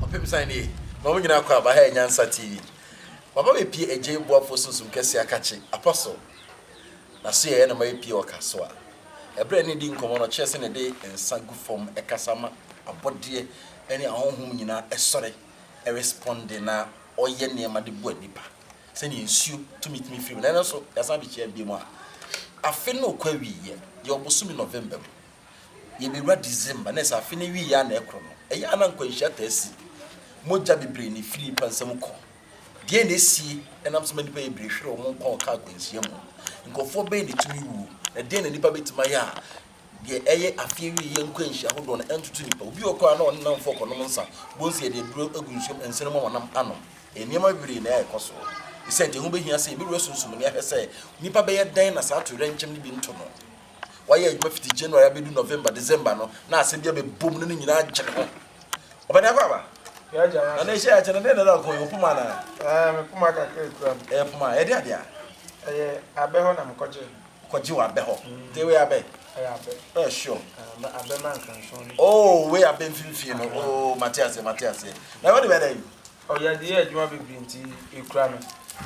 Ɔpem san nie na ɔmo nyinaa kɔ aba ha yɛ nyansa TV waba bɛ pie ɛgyei boafoɔ sunsum kɛseɛ akakye apostle na so yɛ yɛ na mayɛ pie wɔ ka so a ɛbrɛ ne di nkɔmɔ no ɔkyerɛ sɛ ne de nsa gu fɔm ɛkasa ma abɔdeɛ ɛne ahonhom nyinaa ɛsɔre ɛresponde na ɔyɛ nneɛma de boa nipa sɛnea nsuo tumi tumi firi mu na ɛno so yɛasan abɛhyia bio mu a, afe no rekɔ awieɛ, yɛwɔ bosome November mu, yɛbɛwura December na ɛsɛ afe no awieɛ a na ɛkorɔ no, ɛyɛ a na nkwanhyia taa si, mogya bebree na ɛfiri nnipa nsa mu kɔ. Deɛn na ɛsie? Ɛnam sɛ ma nnipa yɛ birehwere, wɔn nkwa ɔka akwanhyia mu. Nkurɔfoɔ bɛn na ɛtumi wuo, na deɛn na nnipa bɛtumi ayɛ a Deɛ ɛyɛ afeɛ awiei yɛ nkwanhyia hodoɔ no ntoto nnipa. Obi wɔ koraa na ɔne nnamfoɔ rekɔnom nsa, bohu sɛ yɛde aduro agu nsuom, nsene ma wɔnam anom. Nneɛma bebree na ɛrekɔ so. Esiane nti, ɛho bɛhia sɛ yɛbɛwura sunsum no, ahwɛ sɛ nnipa bɛyɛ dɛn na saa atoyerɛnkyɛm no bi nto no. Wayɛ adwuma fiti January abɛdu November, December no, na asɛm bi abɛbom na ne nyinaa agye ne ho. Ɔbani Akwaaba, na na ɛhyɛ yɛ akyɛ no, dɛn na ɛda wo kɔn yi? Wo poma anaa? Ɛɛ, me poma kakra kura mu. Ɛyɛ poma a ɛde adeɛ a? Ɛyɛ abɛ hɔ na mekɔgyee no. kɔgye wɔ abɛ hɔ. Nti wei abɛ? Ɛyɛ abɛ. Ɛyɛ sure. Ɛɛ abɛ ma nkanson no. Oo wei abɛ mfimfini no. Oo mate aseɛ mate aseɛ. Na wɔde bɛ dɛ yi? Ɔ yɛde yɛ adwuma bebree nti ekura no.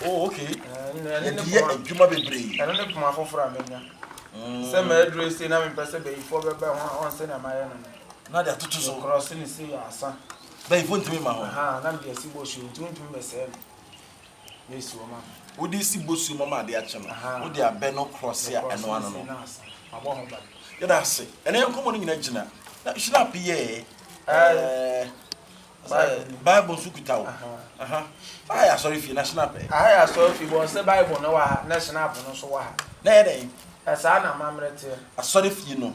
Oo okay. Yɛde yɛ adwuma bebree. Ɛno ne poma foforɔ a manya. Sɛ maduru esei na mempɛ sɛ bayifoɔ bɛba ho a ɔn sɛnea mayɛ no no. Na de atoto so. Me krɔse no sei a asa. Bayifoɔ ntumi mma hɔ. Ahaa na mede asi bɔsuo nti wontumi bɛsɛe no. Wode si bosuo mu ama ade akye no, wode abɛ no krɔse a ɛno ano no. Yɛda ase. Ɛnɛ yɛn nkɔmmɔ no nyinaa gyina. Na hyirap yɛɛ. Bible nso kuta o. Aha yɛ asɔre fie na hyirap ɛ. Aha yɛ asɔre fie bɔ sɛ Bible no wɔ ha na hyirap no nso wɔ ha. Na yɛ dɛn? Ɛsaa na amammerɛ teɛ. Asɔre fie no.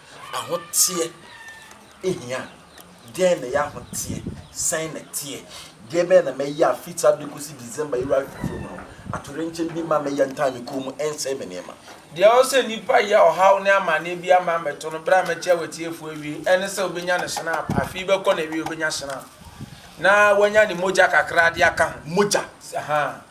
Ahoteɛ hia. Dɛn na ɛyɛ ahoteɛ? Sɛn na ɛteɛ? Deɛ bɛn na mɛyɛ a firi saa berɛ yi kɔsi December yi wura fifire mu no, atoyerɛnkyɛm bi mma mɛyɛ ntaa me kɔn mu ɛnsɛe me nneɛma? Deɛ ɛwɔ sɛ nnipa yɛ ɔhaw ne amaneɛ biara mma ɛmmɛto no berɛ a mɛkyerɛ w'atiefoɔ awiei, ɛne sɛ ɔbɛnya ne snap, afe yi bɛkɔ na awiei ɔbɛnya snap, na wanya ne mogya kakra de aka ho, mogya, ahaa.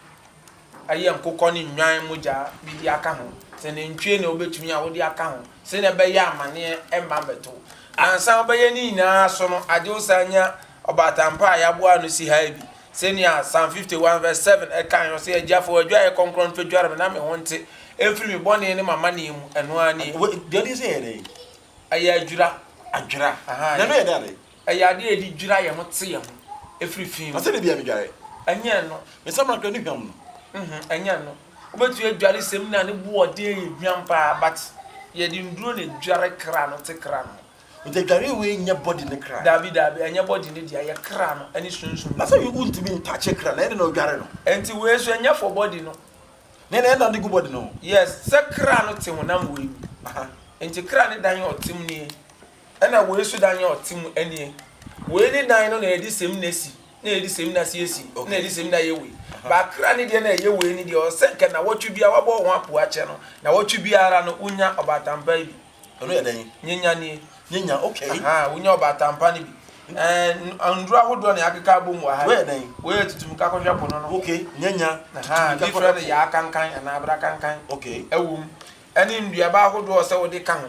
Ɛyɛ nkokɔ ne nnwan mogya bi de aka ho, sɛ nantwie na wobɛtumi a wode aka ho, sɛnea ɛbɛyɛ amaneɛ remma mmɛto wo. Ansa wobɛyɛ ne nyinaa so no, agye wo san nya ɔbatampa a yɛaboa ano si ha yi bi. Sɛnea Psalm 51 vs 7 kae no, ɔse, Agya, fa w'adwaeɛ kɔnkrɔn no twadware me na me ho nte mfiri me bɔne ne m'amaneɛ mu. Ɛno ara nie. Wei, deɛ ɔde yɛ sɛ yɛ dɛn? Ɛyɛ adwira. Adwira. Aha, ɛyɛ. Na ɛno yɛ dɛ adɛn? Ɛyɛ ade a yɛde dwira yɛn ho te yɛn ho firi fi mu. Na sɛdeɛ bi a medware. Ɛnyɛ ɛno. Me nsamanka ne hwam no. Mh-hmm, ɛnyɛ ɛno. Wobɛtumi adware samina a ne boɔden yɛ hwam paa but yɛde nnuro na edware kra no te kra no ho. Nti adwareɛ wei nyɛ body ne kra. Daabi daabi, ɛnyɛ body ne deɛ, ɛyɛ kra no ne sunsum no. Na sɛ wontumi ntouche kra no, ɛnde na wodware no. Nti wei nso ɛnyɛ for body no. Nea na ɛnam de gu body no ho. Yes, sɛ kra no te honam wei mu. Aha. Nti kra ne dan a ɔtem nie. Ɛna woi nso dan a ɔte mu nie. Woi ne dan no na yɛde semina si, na yɛde semina si esi, na yɛde semina yɛ woi. Bakra ne deɛ na ɛyɛ woi ne deɛ, ɔsɛ nka nawɔtwe biara wabɔ ho apo akyɛ no, nawɔtwe biara no wonya ɔbaatampaa bi. Ɛno yɛ dɛn? Nyenya nie. Nyenya, ok. Ahaa, wonya ɔbaatampaa no bi. Ɛɛ, nnuro ahodoɔ na yɛakeka abom wɔ ha yi. Woi yɛ dɛn? Woi yɛ tutumika kɔhwɛ po no no. Ok, nyenya, tutumika kɔhwɛ po. Ahaa, bi frɛ no yaakankan anaa abrakankan. Ok. Ɛwom, Ɛne nnuaba ahodoɔ ɔsɛ wode ka ho.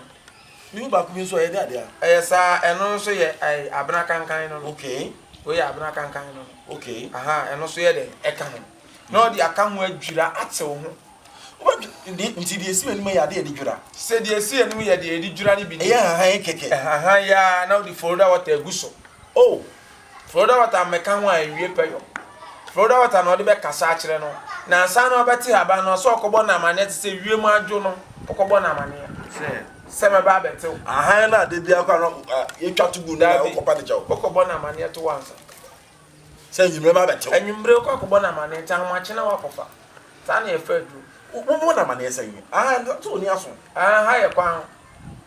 Ne mu baako bi nso ɔyɛ dɛ dea. Ɛyɛ saa ɛno nso yɛ ɛɛ abena kankan no no. Okay. Wei yɛ abena kankan no no. Okay. Ahaa ɛno nso yɛ dɛ ɛka ho. Na ɔde aka ho adwira atew ho. Wobɛdwe nti deɛ ɛsi w'anim yɛ adeɛ a yɛde dwira. Sɛ deɛ ɛsi anim yɛ deɛ yɛde dwira no bi ni. Ɛyɛ hahan kɛkɛ. Hahan yi ara na wode folda water agu so. Oh! Florida Water mmɛka ho a ɛnwie pɛ yɔ. Florida Water na ɔde bɛkasa akyerɛ no, na ansa na ɔbɛte haban no, ɔsɛ ɔkɔbɔ no amanneɛ te sɛ wiem adwo no, ɔkɔbɔ no amanneɛ sɛ, sɛ mɛba abɛtew. Ahan no a da biara kora no yɛtwa to gu no na wokɔpa no kyɛw. Wokɔbɔ no amanneɛ to ansa. Sɛ anwummere mɛba abɛtew. Anwummere wokɔ akɔbɔ no amanneɛ nti ahomakye na woakɔfa. Saa na yɛfa aduru. Wobɔ no amanneɛ sɛn? Ahan, sɛ onni aso. Ahan, ha yɛ kwan.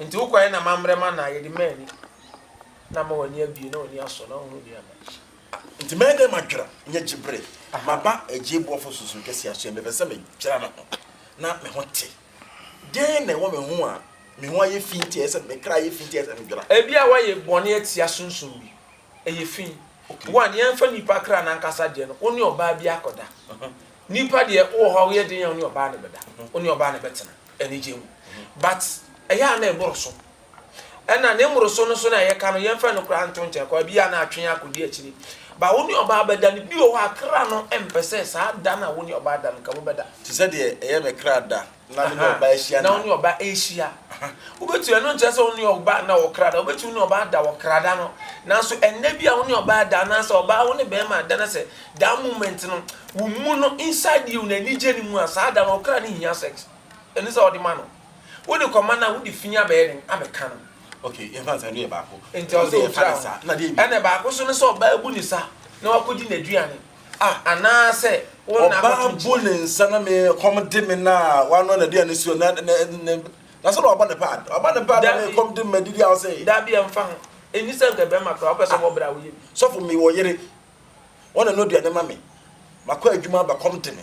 Enti wo kwan na mammrɛ m'anan, yɛde mmaa ani, na ama w'ani abue, na w'ani asɔ, na woahunu nea na. Enti mɛyɛ dɛn madwera, nyɛ gye bere? Maba agye boafo sunsum kɛse aso ɛ, mepɛ sɛ medwera me ho, na me ho te. Dɛn na ɛwɔ me ho a me ho ayɛ fi nti a ɛyɛ sɛ me kra ayɛ fi nti a ɛyɛ sɛ medwera? Ebia woayɛ bɔne atia sunsum bi. Ɛyɛ fi. Wo a, nea ɛmfa nnipa kra no ankasa deɛ no, wo ne ɔbaa bi akɔda. Nipa deɛ wowɔ hɔ a woyɛ den a wo ne ɔbaa no bɛda, wo ne ɔbaa no bɛtena anigyeɛ mu but ɛyɛ a na ɛboroso ɛna ne mmoroso no so na ɛyɛ ka no yɛmfa no koraa nto nkyɛn koraa bi a na atwe akɔdi akyire but wo ne ɔbaa bɛda no bi wɔ hɔ a kra no ɛmpɛ sɛ saa da no a wo ne ɔbaa da no nka mobɛda. Te sɛ deɛ ɛyɛ me kra da Na me ne ɔbaa ahyia nna. Na wo ne ɔbaa ahyia. Wobɛtumi, ɛno nkyerɛ sɛ wo ne ɔbaa nna wɔ kra da. Wobɛtumi ne ɔbaa da wɔ kra da no. Nanso ɛnnɛ bi a wo ne ɔbaa da anaasɛ ɔbaa wo ne bɛrima da na sɛ that moment no wo mu no inside you no anigye ne mu a saa da no ɔkra no hia sex. Ɛne sɛ wode ma no. Wode kɔma no a wode fi abɛyɛ den abɛka no. Ok, yɛmfa no saa, ɛno yɛ baako. Nti ɔsɛ ɔtwa ho. Ɛna baako nso ne sɛ ɔbaa bu ne sa na wakɔdi n'aduane. Ah, anaasɛ wo nna akɔto nkyene. Ɔbaa bu ne nsa na me ɛkɔm de me na wanoa n'aduane suo na na na na sɛ na wabɔ ne pad. Wabɔ ne pad na me ɛkɔm de me madidi a wo sɛ. Dabi ɛmfa ho. Ɛnni sɛ nka bɛrima koraa wopɛ sɛ ɔbɔ bra a woyɛ bi. Sɔfo mewɔ yere. Ɔna ɛno aduane ma me. Makɔ adwuma aba kɔm de me.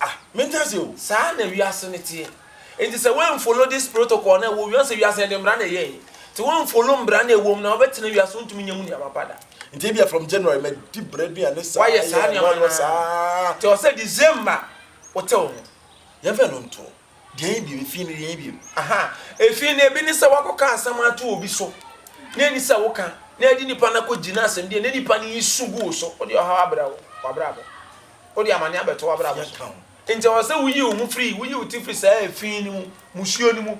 Ah mente ase o. Saa na wiase no teɛ. Enti sɛ woan follow this protocol no a ɛwɔ wiase, wiase yɛde mmara na ɛyɛɛ yɛn. Nti woan follow mmara no a ɛwɔ mu no a wobɛtena wiase wontumi nyɛ mu nneɛma pa da. Nti ebia from January madi bere aduane saa, Woayɛ saa yɛ nneɛma ɛnoa no no saa. ara. Nti ɛwɔ sɛ December wotew ho. Yɛmfa ɛno ntoɔ. Deɛn bio? Efii no deɛn bio? Aha, efii no ebi ne sɛ wakɔka asɛm ato obi so na ɛni sɛ woka na ɛde nipa no akɔgye no asɛm deɛ na nipa no resu gu wo so, wode ɔhaw abrɛ wo w'abrabɔ, wode amane abɛto w'abrabɔ so. Enti ɛwɔ sɛ woyi wo ho firi, woyi wo ti firi saa efii no mu, musuo no mu.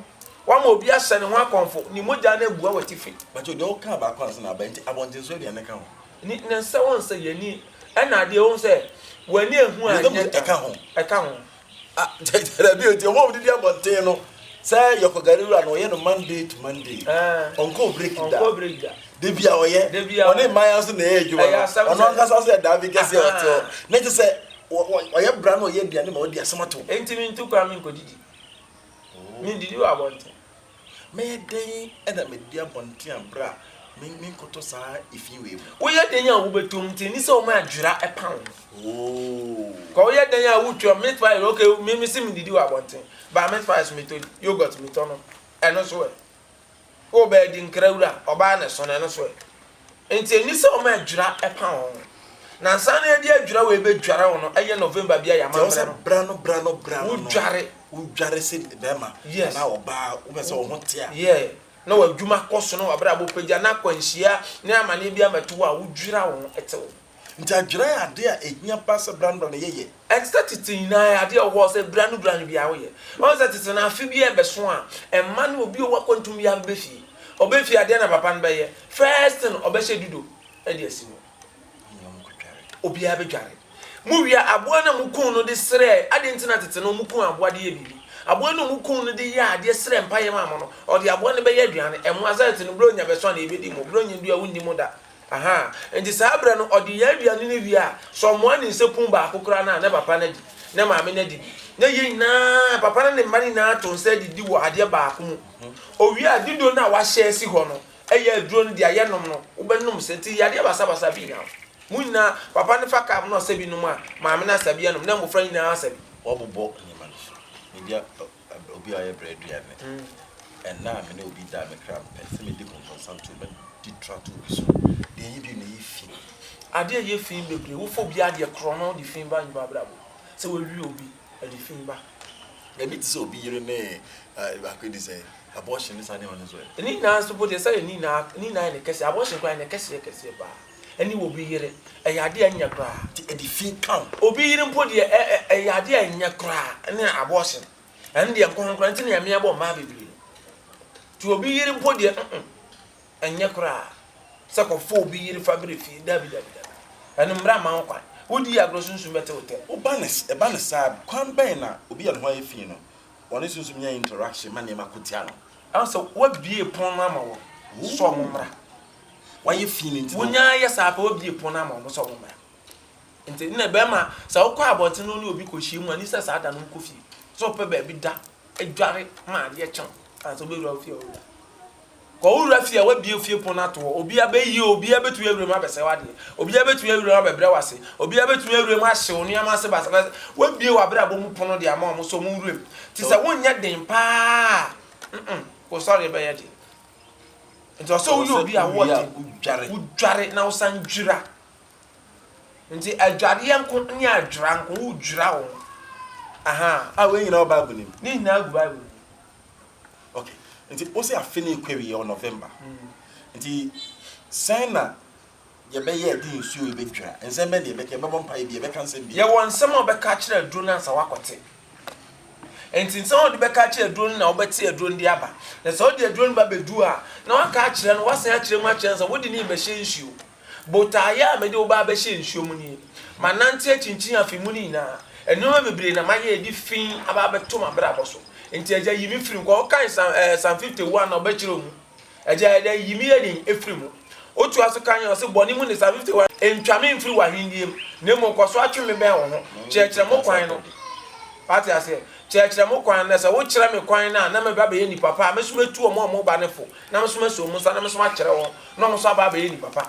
Woama obi ahyɛ ne ho akɔmfo, ne mogya no abua w'atifi. Mpakyɛw, deɛ wokaa baako ansa na aba, enti abɔntensoɔ deɛn na ɛka ho? Ne ne sɛ wɔn sɛ yɛn ani, ɛna adeɛ wɔn sɛ w'ani ahu a ɛnyɛ ka ho. Ɛka ho. Ah, dabi o, nti ɔmo a ɔmo didi abɔnten no, sɛ yɛkɔ gari wura no, ɔyɛ no Monday to Monday. Ɔnkɔ break da. Ɔnkɔ break da. Dabi a ɔyɛ. Dabi a. Ɔne mmaa nso na ɛyɛ adwuma no. Ɛyɛ asɛm sɛ. Ɔno ankasa ɔsɛ ɛdaa bi kɛse a ɔte hɔ. Ne nti sɛ ɔyɛ bra na ɔyɛ aduane ma ɔde asɛm ato. Nti mi ntu kwan mi nkɔ didi. Mi ndidi wɔ abɔnten. Mɛyɛ dɛn na madi abɔnten a bere a menkɔtɔ saa efi wei mu? Woyɛ dɛn a wobɛtɔ mu? Nti ɛni sɛ wɔma adwera pa wo ho. Kwa woyɛ dɛn a wotwa meat pie, ok me me se medidi wɔ abɔnten, but meat pie so metɔ di, yoghurt metɔ nom, ɛno nso ɛ? Wobɛɛ di nkra wura, ɔbaa na ɛsono, ɛno nso ɛ? Enti enni sɛ wɔma adwira pa wɔn ho. Nansa no yɛde adwira wei bedware wo no yɛ November bi a yɛ amammerɛ no. Kyerɛ wo sɛ bra no bra no bra no no. Wodware. Wodware sɛ barima anaa ɔbaa a wopɛ sɛ wo ho te a. Yeah. Na w'adwuma kɔ so na w'abrabɔ pagya na akwanhyia ne amanneɛ bi ammɛto wo a, wodwira wo ho te wo ho. Nti adwera yɛ ade a ɛhia paa sɛ berɛ ano berɛ ano yɛyɛ. Ɛnte sɛ tete nyinaa ɛyɛ adeɛ a ɛwɔ hɔ sɛ berɛ ano berɛ ano biara woyɛ. Woahu sɛ tete no afe biara ɛbɛso a, mma ne obi a ɔwɔ akwantum biara bɛba fie. Ɔba fie a, deɛn na papa no bɛyɛ? First thing, ɔbɛhyɛ dudo de asi hɔ. Obiara bɛdware. Mowie a, aboa no a mokum no de srɛɛ, adɛn nti na tete no wɔkum aboa de yɛ biribi? Aboa no a wɔkum no de yɛɛ adeɛ srɛɛ mpaeɛ maa mo no, ɔde aboa no bɛyɛ aduane, ɛmmoa. Sɛ tete no berɛ a ɔnya bɛso a na yɛbɛdi mo, berɛ a ɔnya nnuru a wonni mo da. Aha, enti saa berɛ no ɔde yɛn aduane no wie a, sɛ ɔmoa ne nsekun baako koraa no a, na papa no adi, na maame no adi bi. Na yɛn nyinaa, papa no ne mma no nyinaa to nsa didi wɔ adeɛ baako mu. Ɔwie a, diduro no a wɔahyɛ asi hɔ no yɛ aduro no deɛ yɛnom no, wobɛnom sɛ nti yadeɛ basabasa bi nnyaa wo. Mo nyinaa, papa no fa cup no a ɔsɛ bi nom a, maame no asa bi anom, na mmofra nyinaa asa bi. Wɔbobɔ nneɛma no so. Media Ɛberɛ obi a ɔyɛ berɛ aduane. Ɛnna a me ne obi da a me kra mpɛ sɛ medi konkonsantuo bɛdi tratow bi so de ayi bio na ɛyɛ fi. Adeɛ a ɛyɛ fi bebree, wofa obi adeɛ korɔ na wode fi ba nnipa abrabɔ mu. Sɛ woawie obi, ɛde fi ba. Ɛbi te sɛ obi yere ne baako adi sɛ abortion ne saa nneɛma no nso ɛ? Ne nyinaa nso mpo deɛ sɛ ne nyinaa ne nyinaa yɛ ne kɛseɛ, abortion koraa yɛ ne kɛseɛ kɛseɛ paa. ɛne obi yere, ɛyɛ adeɛ a ɛnyɛ koraa. Nti ɛde fie ka wo. Obi yere mpo deɛ, ɛ, ɛ, ɛyɛ adeɛ a ɛnyɛ koraa, ɛne abortion. Ɛno deɛ ɛnkɔ ho koraa, nti na Nyame abɔ mmaa bebree no. Nti obi yere mpo deɛ, mm-mm, ɛnyɛ koraa. Sɛ kɔfa obi yere fa brɛ fie, dabi, dabi, dabi. Ɛno mmara mma ho kwan. Wodi agorɔ a, sunsum bɛte wo tɛm. Woba no, ɛba no saa a, kwan bɛn na obi a ne ho ayɛ fi no, ɔne sunsum nya interaction ma nneɛma ko tia no? Ɛwɔ sɛ wɔabue pon no ama wɔn, sɛ wɔmmra. wayɛ fii no nti no. Wonyaa yɛ saa pɛ wabie pon ama wɔn sɛ wɔmmra. Nti na bɛrima sɛ wokɔ abɔnten na wo ne obi kɔhyiam a, nni sɛ saa da no wokɔ fie. Sɛ wopɛ baabi da, dware ma adeɛ kye wo ansa wobɛwura wo fie a wowura. Kɔ wowura fie a wabie fie pon no ato hɔ, obiara bɛyi o, obiara bɛtumi awura mu abɛsɛe w'adeɛ, obiara bɛtumi awura mu abɛbrɛ wo ase, obiara bɛtumi awura mu ahye wo nneɛma ase basabasa. Wabie w'abrabɔ mu pono de ama wɔn sɛ wɔnwura mu. Nti sɛ wonyɛ den pa ara a, mm-mm, wo sɔre bɛyɛ den. nti ɔsɛ woyɛ obi a wɔde wodware na wosan dwira nti adwareɛ nko ne adwira nko wodwira wo aha a wei nyinaa wɔ bible nim ne nyinaa gu bible mu okay nti wo sɛ afe ne ɛkɔ awie wɔ november hmm. nti sɛn na Deɛ ɛbɛyɛ a ɛde nsuo rebɛdwira. Nsɛm bɛn na yɛbɛka? Yɛbɛbɔ mpaeɛ bia? Yɛbɛka nsɛm bia? Yɛwɔ nsɛm a wobɛka akyerɛ aduro no ansa woakɔte. Enti nsɛm a wode bɛka akyerɛ aduro no na wobɛte aduro no de aba. Na sɛ wode aduro no ba bɛduru a, na woaka akyerɛ no, woasan akyerɛ mu akyerɛ no sɛ wode no rebɛhyɛ nsuo. Botaeɛ a mede wo ba abɛhyɛ nsuo mu nie. Manante akyinkyin afe mu no nyinaa. Nneɛma bebree na mayɛ a ɛde fi aba abɛto m'abrabɔ so. Enti Agya, yi me firi mu. Kɔ, wokae Psalm, ɛɛ, Psalm 51 na wobɛkyerɛw mu. Agyae dɛ, yi me yayin firi mu. Otoa so kae ɔse, Bɔne mu ne saa, 51, ntwa me mfiri w'ahennie mu, na mmom kɔ so atwe me bɛn wo ho. Kyerɛkyerɛ mo kwan no. Wate aseɛ? Kyerɛkyerɛ mo kwan no. Na sɛ wokyerɛ me kwan no a, na mɛba abɛyɛ nipa pa, a me nso mɛtu wɔn a wɔreba no fo, na me nso masi wɔn nsa, na me nso makyerɛ wɔn, na wɔn nso aba abɛyɛ nnipa pa.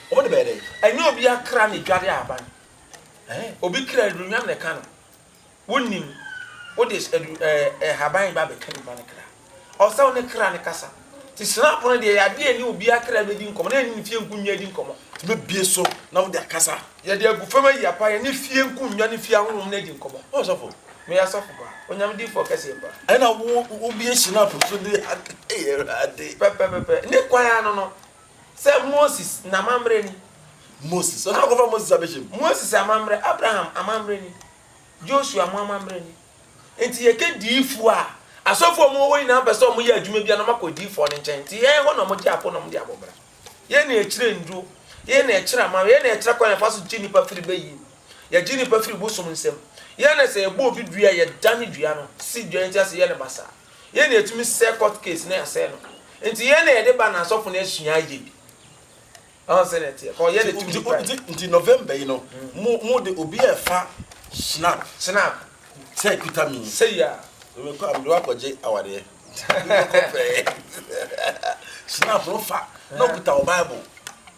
Wɔn de bɛyɛ dɛn? Ɛnyɛ obiara kra na edware a aba no. Ɛɛ, obi kra aduhwam na ɛka no. Wonnim. Wode adu, ɛɛ, nhaban ba bɛka nipa no kra. Ɛwɔ sɛ wo ne kra no kasa. Nti srapo no deɛ ɛyɛ adeɛ a ɛne obiara kra bɛdi nkɔmmɔ na ɛne ne fie nkonnwa adi nkɔmmɔ. Nti mɛbue so na mode akasa. Yɛde agu fam ayi apa, yɛne fie nkonnwa ne fie ahonhom no adi nkɔmmɔ. Hɔ sɔfo, meyɛ asɔfo pa, Onyame difoɔ kɛseɛ pa. Ɛna wo, wobue srapo so de, Ade, Awurade. Pɛpɛpɛpɛ. Ne kwan ara no no, Sɛ Moses n'amammerɛ ni. Moses, ɔno a wɔkɔfa Moses abɛhyɛ mu. Moses amammerɛ, Abraham amammerɛ ni, Joshua mo amammerɛ ni. Nti yɛka diifoɔ a, asɔfoɔ a wɔwɔ hɔ nyinaa mpɛ sɛ wɔyɛ adwuma bi a na wɔakɔ diifoɔ no nkyɛn. Nti yɛn hɔ na wɔgye apɔ na wɔde abɔ mmara. Yɛn na yɛkyerɛ nnuro, yɛn na yɛkyerɛ amammerɛ, yɛn na yɛkyerɛ kwan a yɛfa so gye nnipa firi bayie mu, yɛgye nnipa firi bosom nsam. Yɛn na sɛ yɛbɔ obi dua a, yɛdane dua no, si dua no ti ase, yɛ no basaa. Yɛn na yɛtumi sɛe court case na yɛasɛe no. Nti yɛn na yɛde ba na asɔfo no asua ayɛ bi. Wahu sɛnea ɛteɛ? Kɔ, yɛn na yɛtumi de kura yɛn. Nti November yi no, mo de obi a ɛfa Schnapp. Schnapp. Sɛ ɛkuta me yi. Sɛi a. Mekɔ a, mede wo akɔgye awareɛ. Wobɛkɔ pɛɛ. Schnapp no fa, na ɔkuta wo Bible.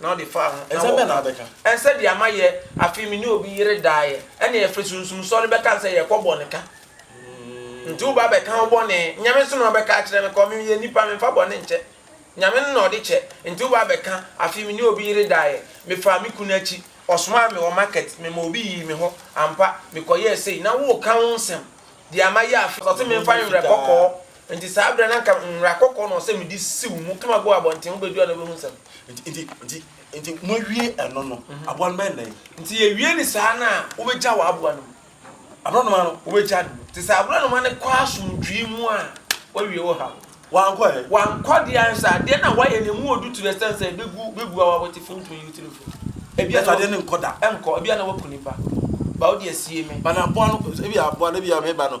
na ɔde faa ho, na wɔkaa, Ɛnsɛ deɛ mayɛ, afei me ne obi yere daeɛ, ɛnna yɛfiri Sunsum Sɔre no bɛkaa sɛ yɛrekɔbɔ no ka. Nti woba abɛka wo bɔne, Nyame nso na ɔbɛka akyerɛ me, kɔ, meyɛ nnipa, memfa bɔne nkyɛ. Nyame no na ɔde kyɛ. Nti woba abɛka, afei me ne obi yere daeɛ, mefaa me kunu akyi, ɔsomaa me wɔ market, mema obi yii me hɔ, ampa, mekɔyɛɛ sei, na woreka wo nsɛm, deɛ mayɛ, afei ɔse memfa nwerɛ kɔkɔɔ. Nti saa berɛ no anka nwera kɔkɔɔ na ɔsɛ mede siw mu kama gu abɔnten, wobɛdu a na wobɛhu nsɛm. Nti, nti, nti, nti moawie ɛno no, aboa no bɛyɛ dɛn? Nti yɛwie no saa no a, wobɛgya w'aboa no mu. Aborɔnoma no, wobɛgya no mu. Nti sɛ aborɔnoma no kɔ asomdwoe mu a, woawie wo haw. Wankɔ ɛ? Wankɔ deɛ a, nso adeɛ no a woayɛ no, ɛmu ɔdu to the extent sɛ ɛbɛgu, bɛgu awɔ a wote fo, wontumi nyi wo tiri mfiri. Ebia na waku, ɛnkɔ, ebia na waku nipa, but wode asie me. But na aboa no, ebia aboa no, ebia meba no,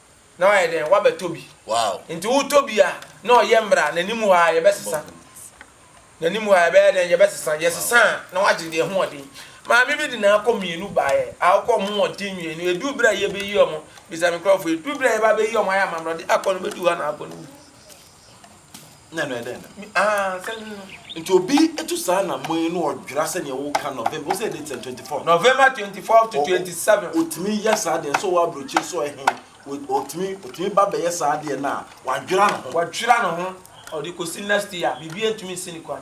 na wayɛ dɛn? Wabɛtɔ bi. Nti wotɔ bi a, na ɔyɛ mmerɛ a, n'anim hɔ ara yɛbɛsesa. N'anim hɔ ara yɛbɛyɛ dɛn? Yɛbɛsesa. Yɛsesa a, na wagye deɛ ɛho ɔden. Maame bi de n'akɔ mmienu baeɛ a ɔkɔ wɔn ho ɔden mmienu. Ɛduru berɛ a yɛbɛyi wɔn, bisa me nkurɔfoɔ, ɛduru berɛ a yɛba abɛyi wɔn ayɛ amammerɛ, ɔde akɔ no bɛduru hɔ a na akɔ no wu. na ɛnɛ dɛn na ah sɛ nti obi etu saa na mo yi na ɔdwira sɛ nea ɛwɔ ka november ɔsɛ ɛde ten twenty four. november twenty four to twenty seven. otumi yɛ saa deɛ nso wɔ aburokyire so ɛhen otumi otumi ba bɛyɛ saa deɛ na wadwira ne ho. wadwira ne ho ɔde kɔsi next year biribi ntumi nsi ne kwan.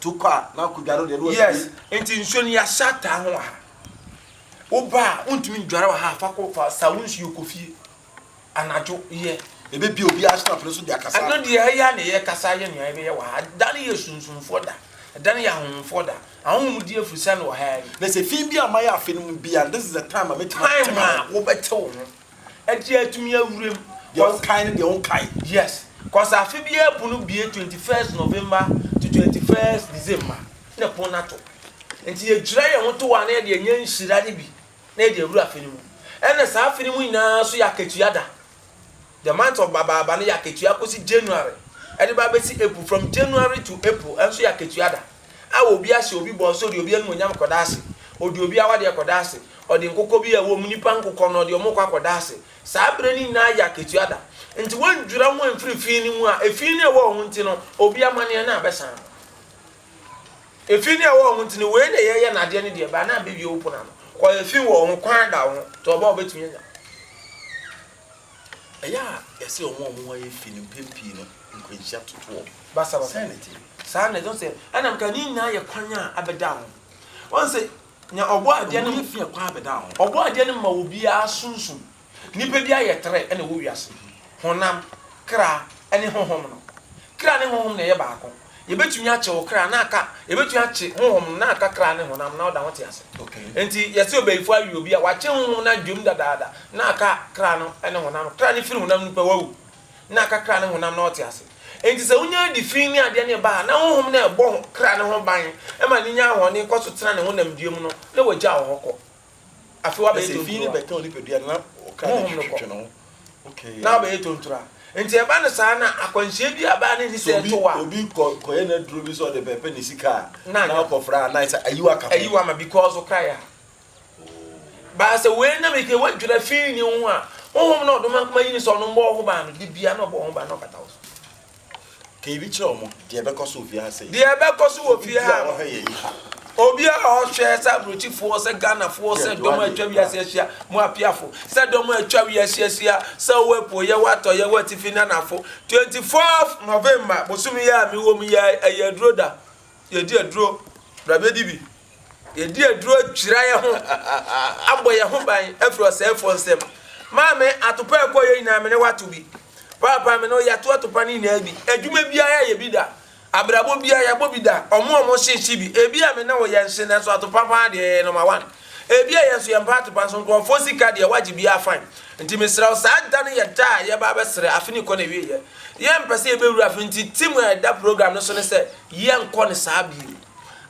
To kɔ a na kodware wo deɛ na watumi. Yes nti nsuo no yɛahyɛ ataa ho wɔ ha wo ba a wontumi ndware wɔ ha a fa kɔ fa sa wo nsuo kɔ fie anadwo yɛ. Yɛbɛbue obiara aso afei nso de akasa. Ɛno deɛ ɛyɛ a na yɛ kasa ayɛ nea yɛbɛyɛ wɔ ha da no yɛ sunsumfoɔ da da no yɛ ahonhomfoɔ da ahonhomdie afiri sɛn wɔ ha yi. Na sɛ fi bi a mayɛ afe no mu biara this is the time a mɛtumi ate me ho. Time a wobɛte wo ho. Ɛdeɛ atumi awura mu. Deɛ wo kae ne deɛ wo nkae. Yes cos afe biara pon no bue twenty first November to twenty first December na pon no ato nti yɛdwira yɛn ho to hɔ a na yɛde anya nhyira no bi na yɛde awura afe no mu ɛna saa afe no mu nyinaa nso yɛ akatua da the month of Babaaba no yɛ akatua kɔsi January ɛde ba bɛsi April from January to April ɛnso yɛ akatua da. Awo obi ase, obi bɔ nso ɔde obi animuonyam kɔda ase, ɔde obi awadeɛ kɔda ase, ɔde nkokɔ bi a ɛwom, nnipa nkokɔ no, ɔde wɔn kɔ akɔda ase. Saa berɛ no nyinaa yɛ akatua da. Enti wɔndwira ho mfiri efi no mu a efi no a ɛwɔ wɔn ho nti no, obi amanneɛ no abɛsan no. Efi no a ɛwɔ wɔn ho nti no, wei na yɛyɛ na adeɛ no deɛ ɛba na abɛwie wo pono ano. Kɔ efi wɔ wo ho, kwan da wo ho, tɔ ɔba a wobɛtumi anya. Ɛyɛ a yɛse wɔn a wɔn ho ayɛ fi no mpɛn pii no nkwanhyia toto wɔn. Basabasa. Sɛn na ɛte? Saa na ɛte. Wohu sɛ ɛna meka ne nyinaa yɛ kwan a abɛda ho. Woahu sɛ nea ɔbɔɔ adeɛ no. Ɛho yɛ fi a kwan abɛda ho. Ɔbɔɔ adeɛ no ma obiara sunsum. Nnipa bi ayɛ trɛ na ɛwɔ wiase, honam, kra, ne honhom no. Kra ne honhom na ɛyɛ baako. yɛbɛtumi akye wo kra na aka, yɛbɛtumi akye honhom no na aka kra ne honam na ɔda ho te ase. Enti yɛse ɔbayifoɔ awe obi a wakye honhom no adwam dadaada na aka kra no ne honam. Kra no firi honam no pɛ wawu na aka kra ne honam na ɔte ase. Enti sɛ wonya adi fi ne adeɛ no ba a na honhom no ɛbɔ kra no ho ban ma no nya ahoɔden kɔ so tena ne honamdua mu no na wagya wo hɔ kɔ. Afei wabɛyɛ tontura. Ɛsɛ fi ne bɛtɛn onipadua no na ɔka ne twetwe ne ho. Okay. Na wabɛyɛ tontura. Nti ɛba no saa na akwanhyia bi a baa ne ni sɛ ɛto wa. Obi kɔ kɔyɛ n'aduro bi sɛ ɔde bɛpɛ ne sika a. Na ɔkɔfra a na ɛsɛ ayi waka ho. Ayi wa ma because ɔka ya. Baa sɛ wei nam ike wadwira fi ne ho a honhom na ɔdoma nkoma yi ne sɛ ɔno mbɔ ɔho baa no de bia na ɔbɔ ɔho baa na ɔkata wo so. Ka ebi kyerɛ wɔn, deɛ ɛbɛkɔ so wɔ fie ha sei. Deɛ ɛbɛkɔ so wɔ fie ha no. Obi a ɔhwɛ yɛn yi ha. Obi a ɔhwɛ sɛ aburokyifoɔ, sɛ Ghanafoɔ, sɛ dɔm a atwa wiase ahyia, mo apiafo, sɛ dɔm a atwa wiase ahyia, sɛ wɔ apueɛ, wɔ atɔeɛ, wɔ atifi ne anafo. 24 November, bosome yi a mewɔ mu yi, ɛyɛ aduro da. Yɛdi aduro. Bra bɛdi bi. Yɛadi aduro adwira yɛn ho abɔ yɛn ho ban afiri ɔsɛefoɔ nsam. Maame, atopa a ɛkɔeɛ nyinaa me ne wo ato bi. Paapa, me ne wo yɛato atopa no nyinaa bi. Adwuma biara yɛyɛ bi da. Abrabɔ biara yɛabɔ bi da. Wɔn a wɔhye hye bi. Ebia me ne wo yɛnhye nanso atopa paa deɛ yɛyɛ nɔma wan. Ebia yɛn nso yɛmpɛ atopa nso nkurɔfoɔ sika deɛ wɔagye biara fine. Nti mesrɛ wo saa da no yɛ da a yɛba abɛsrɛ afe no rekɔ n'awieɛ. Yɛmpɛ sɛ yɛbɛwura afe no nti tim a ɛda program no so ne sɛ yɛnkɔ no saa bio.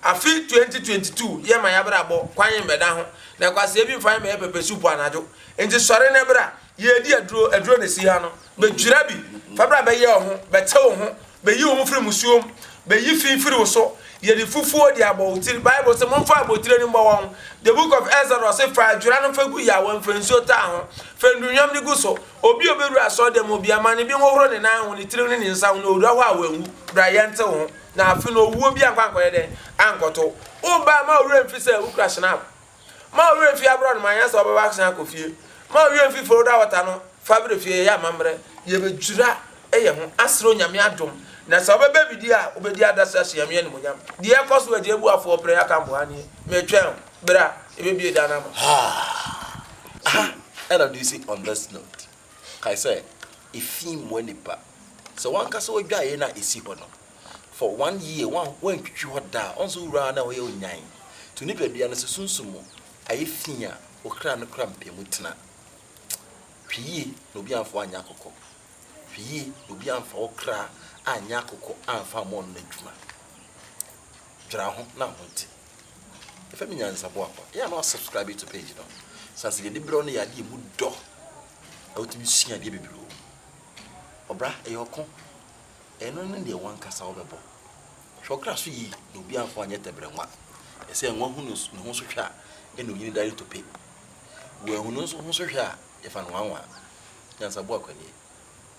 Afe twenty twenty two yɛ ma y'abrabɔ kwan yɛ mbɛda ho na kwasea bi nfa yɛ mbɛyɛ pɛpɛ soup anadwo nti sɔre na bra yɛɛdi aduro aduro na esi ha no bɛdwira bi fa bra bɛyɛ wo ho bɛte wo ho bɛyi wo ho firi musuo mu bɛyi fi firi wo so yɛde fufuo de abɔ wo tiri bible se monfa abotire no mbɔ wɔn the book of Exodus se fa adwira no fa gu ya wɔn fa nsuo taa ho fa ndunwam no gu so obi obɛwura asɔre dɛm obia ma ne bi nhohoro ne nan ho ne tiri ho ne ne nsa ho na owura hɔ a wanwu bra yɛnte wo ho. na afe no owuo bi ankɔ ankɔyɛ dɛn? Ankɔto wo. Wo baa mma wo werɛ mfi sɛ wokura Schnapp. Mma wo werɛ mfi aborɔno ma anyɛ sɛ wobɛba asan akɔ fie. Mma wo werɛ mfi Florida Water no fa brɛ fie. Yɛyɛ amammerɛ, yɛbɛdwira yɛn ho asrɛ Onyame adom, na sɛ wobɛba bi di a, wobɛdi adaseɛ ahyɛ Nyame animuonyam. Deɛ ɛkɔ so Agya Abuafoɔ Prɛn Akanboha nie. Metwɛn wo. Bra, yɛbɛbue dan no ama wo. Haa! Aha ɛna do si on this note. Kae sɛ, efi mmoa nipa. Sɛ w'ankasa w'adwaeɛ no a ɛsi hɔ no, for one year wan wantwitwi hɔ da a, ɔnso wura a na ɛhɔ yɛ onyan. To nipadua no sɛ sunsum mu ayɛ fi a wo kra no kora mpɛ mu tena. Hwɛ yie na obi amfa wo anyɛ akokɔ. Hwɛ yie na obi amfa wo kra anyɛ akokɔ amfa ammɔ no n'adwuma. Dwera ho na ho nte. Efa mi nyansaboa kɔ. Yɛ a na wasubscribe to page no. Sɛ asɛ yɛde berɛ no yɛ adeɛ mu dɔ na wotumi sua adeɛ bebree wɔ mu. Ɔbra ɛyɛ ɔko. Ɛno ne deɛ wankasa wobɛbɔ. Hwɛ ɔkra so yie na obi amfa anyɛ tɛbrɛ nwa. Ɛsɛ nwa hu ne ho so hwɛ a ɛna onyini dare tope. Wɔahu ne ho so hwɛ a yɛfa no wanwa. Nyansaboa kwani.